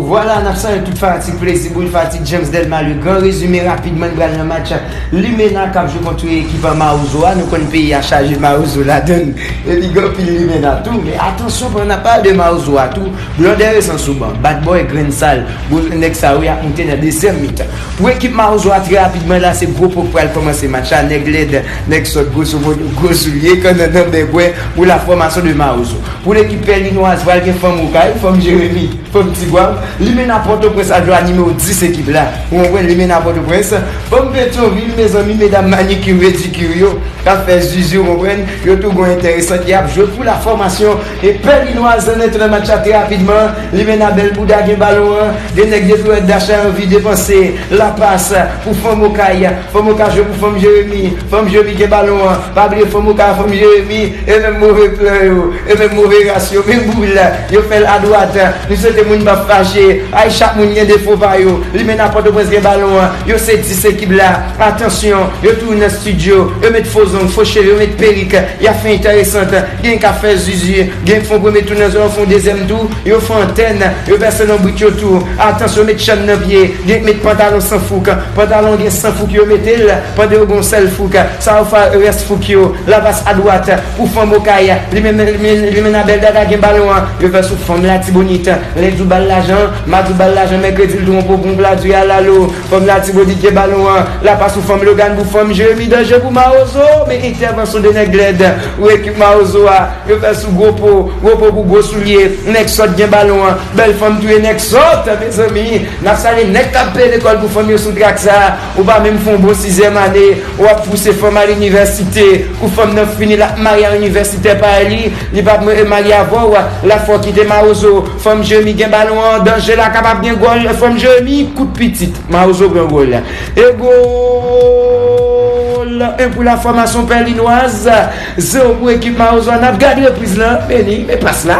Vwala nap sanye tout fanatik plezi boul fanatik James Delma le grand rezime rapidman n pral nan match limena kap jwe kont ekip an mawozo a nou konn peyi a chaje mawozo ladann epi gen anpil limena tou men atansyon pandan nap pale de mawozo a tou blondè rezan sou ban bad boy grenn sal gwo nèg sa yo yap moute nan dezyèm mitan pou ekip mawozo a trè rapidman la se gwo po k pral kòmanse match la nèg lèd nèg sòt gwoso modo gwo soulye kannannan bègwè pou la fòmasyon de mawozo. Pou lekip Pèninwaz pral gen fanm Okay, fanm Jeremi, fanm Tigwav, limena Pòtoprens ak Glwa nimewo 10 ekip la. Ou konprann limena Pòtoprens, fanm Petyonvil mezanmi medam manikir medikir yo k ap fè zuzu ou konprann, yo tou gon entèresan ki ap jwe pou la fòmasyon e Pèninwaz an entran nan match la trè rapidman, limena bèl bouda gen balon an, gen nèg de florèt dachay anvi depanse la pas pou fanm Okay, fanm Okay jwe pou fanm Jeremi, fanm Jeremi gen balon an, pa bliye fanm Okay ak fanm Jeremi. E menm move plan yo, e menm move ras yo, menm boul, yo fè l adwat. Li swete moun pa fache. Ay chak moun gen defo pa yo. Limenna Pòtoprens gen balon an. Yo se 10 ekip la. Atansyon, yo toujou nan stidyo. Yo met fo zong, fo cheve, yo met perik. Y ap fè enteresant. Genyen k ap fè zuzu. Genyen k fè yon premye tou nan zòn, yo fè yon dezyèm tou. Yo fè antèn. Yo pèse lonbrit yo tou. Atansyon, yo met chenn nan pye. Genyen k met pantalon san fouk. Pantalon an gen san fouk yo mete l pandan yo gen yon sèl fouk. Sa yo far res fouk yo. Lavas adwat pou fanm okay li menm li menm abel dada gen balon an yo fè sou fanm latibonit lendi ou bal lajan madi ou bal lajan mèkredi l tronpw pou pladi al alo fanm latibonit gen balon an la pas ou fanm logan pou fanm jeremi danje pou mawozo men entèvanson 2 nèg lèd ou ekip mawozo a yo fè sou gwo po gwo po pou gwo soulye nèg sòt gen balon an bèl fanm touye nèg sòt mezanmi nap sale nèg kap peye lekòl pou fanm yo sou trak sa. Ou pa menm fon bon sizyèm ane ou ap fouse fanm al inivèsite kou fanm nan fini lap marye a inivèsitè pa li li pap mwen re marye avèw la fòw kite marozo fanm jèmi gen balon an danje la kapab gen gòl fanm jèmi kout pitit marozo pran gòl e gòl 1 pou la fòmasyon pèlinwaz 0 pou ekip marozo a nap gad repriz lan meni men pas la.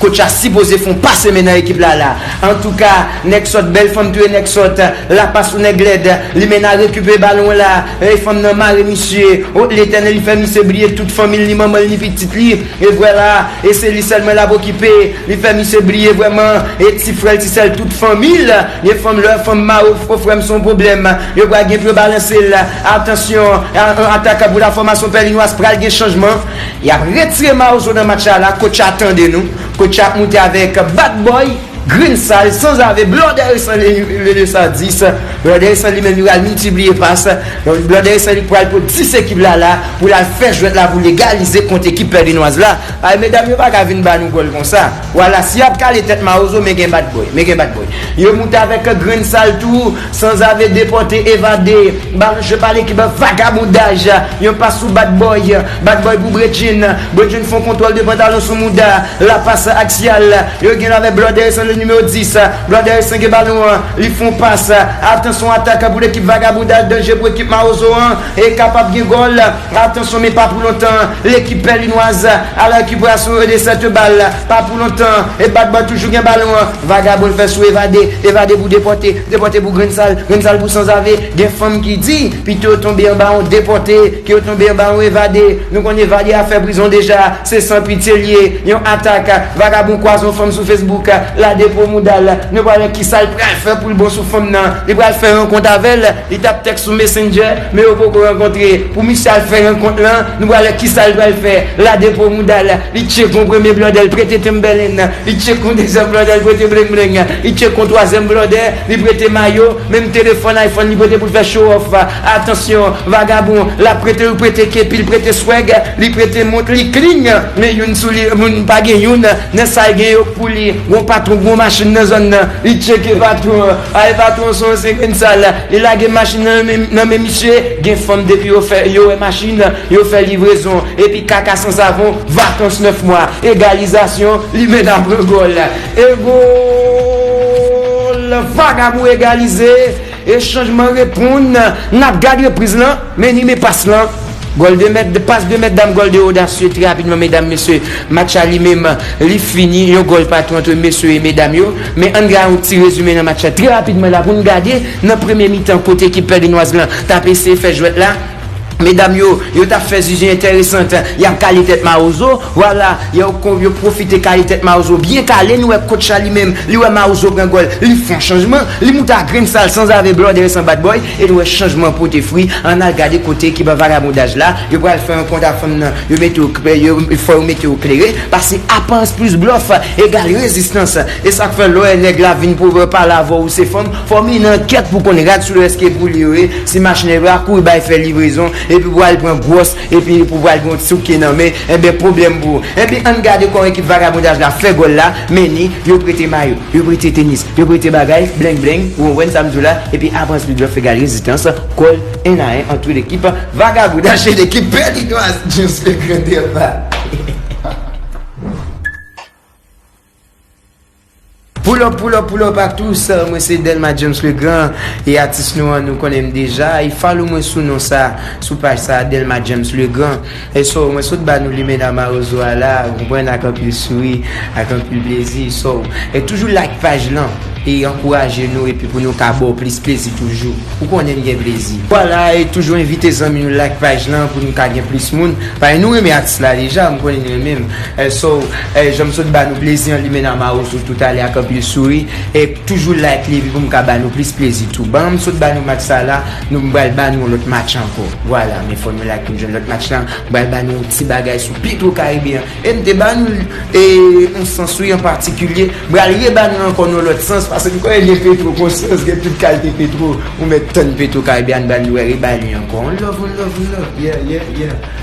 Coach la sipoze fon pase men nan ekip la la. Antouka nèg sòt bèl fanm touye nèg sòt la pas ou nèg lèd limena rekipere balon la ey fanm nan mare misye oh letènèl li fè misye bliye tout fanmil ni manmanl ni pitit li evre la e se li sèlman lap okipe li fè misye bliye vrèman e ti frèl ti sèl tout fanmil ye fanm lè fanm mare w fre frèm son problèm yo pral gen pou yo balansel atansyon atakan pou la fòmasyon pèlinois pral gen chanjman Yap retire marozo nan match la la coach a tande nou coach a ap moute avèk bad boy grenn sal sanzave blòdèresan le le san dis blòdèresan li menm li pral miltipliye pas blòdèresan li pral pot 10 ekip la la pou lal fè jwèt la pou legalize kont ekip pèdenwaz la ay medam yo paka vin ba nou gòl konsa wala si yap kale tèt marozo men gen bad boy men gen bad boy yo moute avèk grenn sal tou Sanzave depòte evade Balan jwe pale ki ban vagabondaj Yon pas sou Bad Boy Bad Boy pou Bredjin Bredjin fon kontwòl de pantalon sou mouda La pas aksyal Yo gen lave Blòdè Resan le nimewo 10 Blòdè Resan gen balon an Li fon pas Atansyon atak pou lekip vagabondaj Danje pou ekip mawozo an E kapab gen gòl Atansyon men pa pou lontan Lekip Pèlinwaz a la rekiperasyon e de 7 bal Pa pou lontan e Bad Boy toujou gen balon an. Vagabon fè sou evade, evade pou depòte, depòte pou grenn sal, grenn sal pou sanzave, gen fanm ki di, pito yo tonbe anba yon depòte, ke yo tonbe anba yon evade, nou konn evade a fè prizon deja, se san pitye l ye, yon atak, vagabon kwaze yon fanm sou Facebook, la depo mouda l, nou pral wè kisa l pral fè pou l bon sou fanm nan, li pral fè rankont avè l, li tap tèks sou Messenger, men yo poko rankontre, pou misye al fè rankont lan, nou pral wè kisa l pral fè, la depo mouda l, li tcheke yon premye blòdè l prete tenb bèlen. Li tchek yon dezyèm blòdè, li prete bleng bleng. Li tchek yon twazyèm blòdè, li prete mayo, menm telefòn iPhone li prete pou l fè show off. Atansyon, vagabon, l ap prete ou prete kepi, l prete swag, li prete mont, li clean, men youn sou li moun pa gen youn nan sa l gen yo k pou li. Gon patwon, gon machin nan zòn nan, li tcheke patwon an. Ay patwon son yon senkenn sal, li lage machin nan nan men misye, gen fanm depi yo fè yo wè machin. Yo fè livrezon epi kaka san savon vakans 9 mwa egalizasyon limena pran gòl e gòl vagabon egalize e chanjman reponn nap gad repriz lan men ni men pas lan gòl de mèt pas de mèt dam gòl de odasye trè rapidman medam mesye match la li menm li fini yon gòl patou antre mesye e medam yo men ann gad yon ti rezime nan match la trè rapidman la poun gade nan premye mitan kote ekip pèdinoaz lan tap eseye fè jwèt la. Medam yo, yo tap fè zuzu enteresant, yap kale tèt marozo, vwala, yo pwofite kale tèt marozo byen kale, nou wè coach la li menm, li wè marozo pran gòl, li fon chanjman, li moute a grenn sal sanzave blòdè e san badbòy, e nou wè chanjman pote fri, ann al gade kote ki ban vagabondaj la, yo pral fè yon kont ak fanm nan, yo mete yo, fò yo mete yo klere, pase aparans plis blòf egal rezistans, e sak fè lò wè nèg la vin pwovè palavò ou se fanm, Fò min ankèt pou konn rad sou lès ke pou li yo ye, si machnè yo a kouri bay fè livrezon, epi pou al pran gwòs, epi pou pral gen yon ti souke nan men, enben pwoblèm pou ou. Enben ann gade kòman ekip vagabondaj la fè gòl la, men ni, yo prete mayo, yo prete tenis, yo prete bagay, bleng bleng, ou konprann sa m di w la, epi apre answit yo ap fè gad rezistans, kòl, 1 a 1 ant 2 lekip vagabondaj e lekip pèdinwaz James le Grand Delva. Pull up pull up pull up a tous mwen se Delma James le grand e atis nou an nou konnenm deja e follow mwen sou non sa sou paj sa Delma James le grand e so mwen sot ba nou limena marozo a la ou konprann ak anpil souri ak anpil plezi so e toujou like paj lan e ankouraje nou epi pou nou ka baw plis plezi toujou ou konnen m gen plezi vwala e toujou envite zanmi nou like paj lan pou nou ka gen plis moun pae nou renmen atis la deja m konnen nou renmenm. So janm sot ba nou plezi an limena mawozo tout ale ak anpil souri e toujou like li epi pou m ka ba nou plis plezi tou ban m sot ba nou match sa la nou m pral ba nou yon lòt match ankò vwala men fò nou like pou n jwenn lòt match la m pral ba nou yon ti bagay sou petro karibe an e m te ba nou l e yon sans wi an patikilye m pral re ba nou l ankò nan yon lòt sans paske m konnen gen petro konsyans gen tout kalte petro ou mèt tann petro karibe an ba nou l wè re ba li ankò on love on love on love yeah yeah yeah.